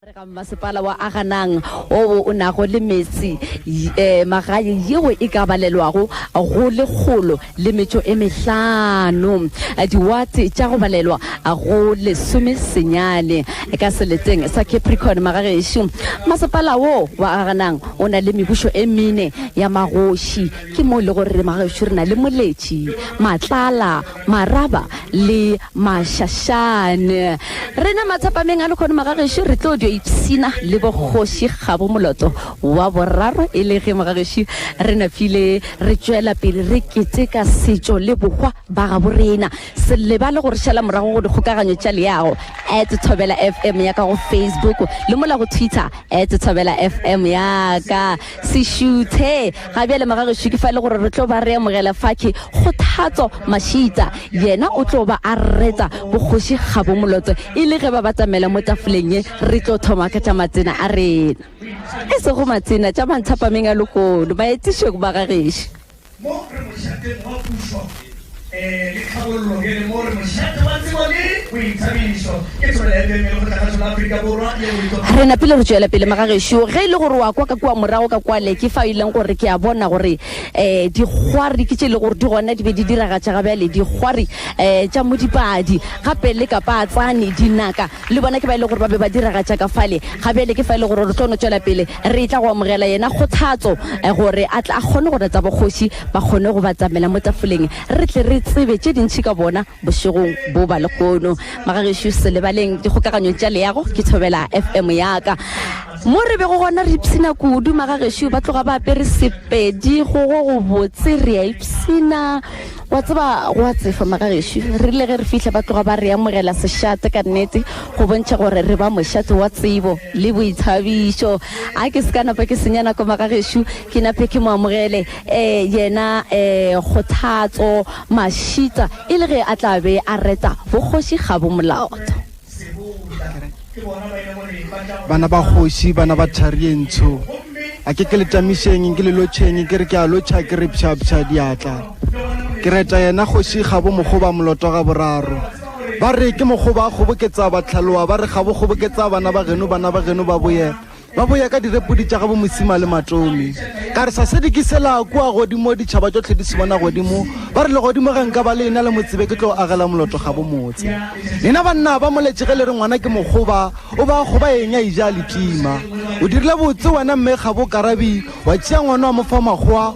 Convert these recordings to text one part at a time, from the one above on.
Re ga mmasepala wa Aganang oo o nago le meetse e magae yeo e ka balelwago go lekgolo le metšo e mehlano, diwate tša go balelwa go lesome senyane ka seleteng sa Capricorn. Magagešo masepala wo wa Aganang o na le mebušo e mene ya magoši, ke mo le go re magagešo re na le Moletši, Matlala, Maraba le mašašane. Rena matsapameng a lekgono Magagešu re tlo dio ipshina le bokgoši gabo moloto wa boraro e le ge Mogagešu re napile re tšwela pele re keteka setšo le bohwa ba gabo rena. Se lebale go re šala morago go dikgokaganyo tša leago at Thobela FM ya ka go Facebook le mola go Twitter at Thobela FM ya ka. Sešuthe, ga bjale magagešo ke fa e le gore re tlo ba re amogela fake Kgothatso Mashita. Yena o tlo ba a reta Bokgoši Kgabomoloto e le ge ba batamela mo tafoleng ye. Re tlo thoma ka tša matsena a rena, e sego matsena tša manthapameng a lehono, baetišok, bagagešo. Mo re mošateng wa pušo le tlhabollo bjale mo re mošate wa tsebo le boithabišo. Ke thobela ya Bibele go tla ka tšona Afrika Borwa le boitlo. Re napile re tšwela pele morago gešo. Ge e le gore o a kwa ka kua morago ka kwale, ke fao e leng gore ke a bona gore dikgwari ke tše e le gore di gona di be di diragatša ga bjale dikgwari tša modipadi gape le kapatsane, dinaka. Le bona ke ba e le gore ba be ba diragatša ka fale. Ga bjale ke fa e le gore re tlo no tšwela pele re etla go amogela yena kgothatso gore a tle a kgone gore tsa bogoši ba kgone go batamela mo tafoleng, re tle re tsebe tše dintši ka bona bošegong bo ba lehono. Magagešo se lebaleng dikgokaganyong tša leago ke thobela FM ya ka. Mo re bego gona re ipshina kudu, magagešo ba tloga ba apere Sepedi go go gobotse, re a ipshina. Wa tseba, gwa tsefa, Magagešo. Re rile ge re fihla ba tloga ba re amogela sešate ka nnete, go bontšha gore re ba mošate wa tsebo le boithabišo. A ke se ka napa ke senya nako, Magagešo, ke nape ke mo amogele, eh, yena, eh, Kgothatso Mashita, e le ge a tla be a reta bogoši ga bo molato. Bana ba kgoši, bana ba thari e ntsho, a ke ke le tamišeng, ke le lotšheng, ke re ke a lotšha, ke re pšhapšha diatla. Ke reta yena kgoši gabo mokgoba moloto ga boraro. Ba re ke mokgoba a kgoboketsa batlhaloa, ba re gabo kgoboketsa bana ba geno, bana ba geno ba boye. Ba boya ka direpodi tša gabo Mosima le Matomi. Ka re, Sasedi ke sela kua godimo, ditšhaba tšohle di se bona godimo. Ba re, Legodimo ge nka ba le ena le mo tsebe, ke tlo agela moloto gabo motse. Lena banna ba moletše ge le re ngwana ke mokgoba, o ba kgoba eng a eja a le tima. O dirile botse wena mme gabo Karabi, wa tšea ngwana wa mo fa makgowa,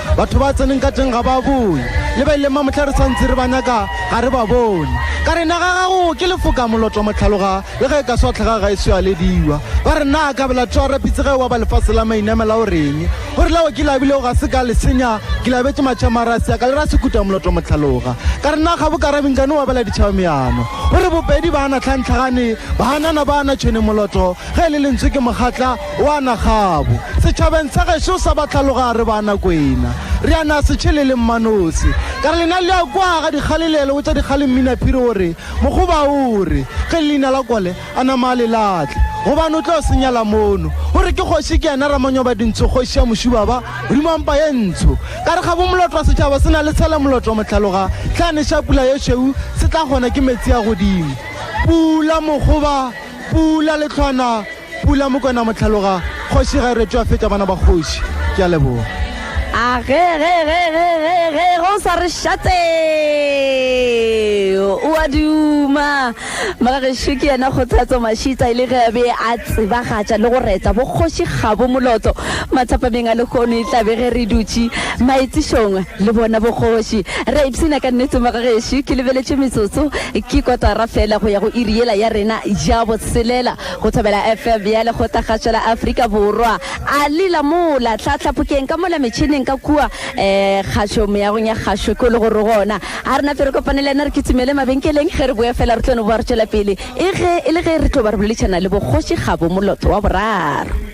Batho ba tseneng ka teng ga ba boe, le ba ileng ba mohla re sa ntse re ba nyaka ga re ba bone. Ka re, Naga ya gago ke lefoka moloto motlhaloga, le ge e ka se wa tlhaga ga e so ya lediwa. Ba re, Na ka bela tšo a rapitse ge e wa ba lefase la mainamela o reng? O re, Leo ke le abilego ga se ka le senya, ke le abetše matšhama a re a se ya ka le ra sekuta moloto motlhaloga. Ka re, Na ga bo ka rabe nkane wa bela ditšhaba meano? O re, Bopedi ba na tlhantlhagane, ba hanana ba na tšhwene moloto, ge e le lentswe ke mogatla, Wa na kgabo. Setšhabeng sa gešo sa Batlhaloga re ba na kwena. Re a na se tšhele le Mmanosi. Ka re lena le a kwa ga dikgale le a le botša dikgale Mminaphiri o re, Mokgoba o re, ge le leina la kole, a nama a le latle. Gobane o tlo se nyala mono. O re ke kgoši ke yena Ramanyobadintsho kgoši ya Mošuba ba, Modimo wa mpa ye ntsho. Ka re kgabo molotwa setšhaba se na le tshele molotwa Motlhaloga ge a neša pula ye šweu se tla kgona ke metsi a godimo. Pula Mokgoba. Pula Lehlwana, Pula Mokwena Mohlaloga, Kgoši ga e retšwe a fetša bana ba kgoši. Ke a leboga. A ge ge ge ge ge ge ge o sa re šatse o a duma moragešo ke yena kgothatso mashitsa e le ge a be a tsebagatša le go reta bokgoši kgabo molotso mathapameng a lehono e tlabe ge re dutše maetsišong le bona bokgoši Re a ipshina ka nnete mo ga gešo. Ke lebeletše metsotso, ke kotara fela go ya go iri yela ya rena ya botshelela go Thobela FM ya Lekgotla-kgašo la Afrika Borwa. Ali la mola, hlahla phokeng ka mola metšhineng ka kua, ee, kgašo meagong ya kgašo ko le go re gona. A re nape re kopane le yena re kitimele mabenkeleng, ge re boya fela re tlo no boa re tšwela pele e ge e le ge re tlo ba re boledišana le Bokgoši Kgabo Moloto wa Boraro.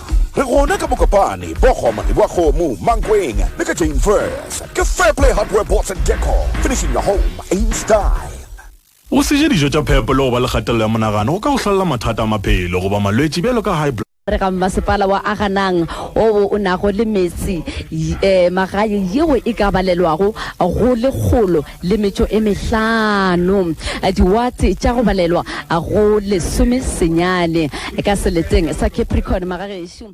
Re gona ka Mokopane, Bogoma, Leboakgomo, Mankweng le ka Jane First. Ke Fairplay Hardware Boards and Decor, finishing your home in style. Go se je dijo tša phepo le go ba le kgatelelo ya monagano go ka go hlolela mathata a maphelo goba malwetši bjalo ka high. Re ga mmasepala wa Aganang owo o nago le metse, magaye yeo e ka balelwago go lekgolo. le metšo e mehlano, diwate tša go balelwa go lesomesenyane, ka seleteng sa Capricorn magagešo.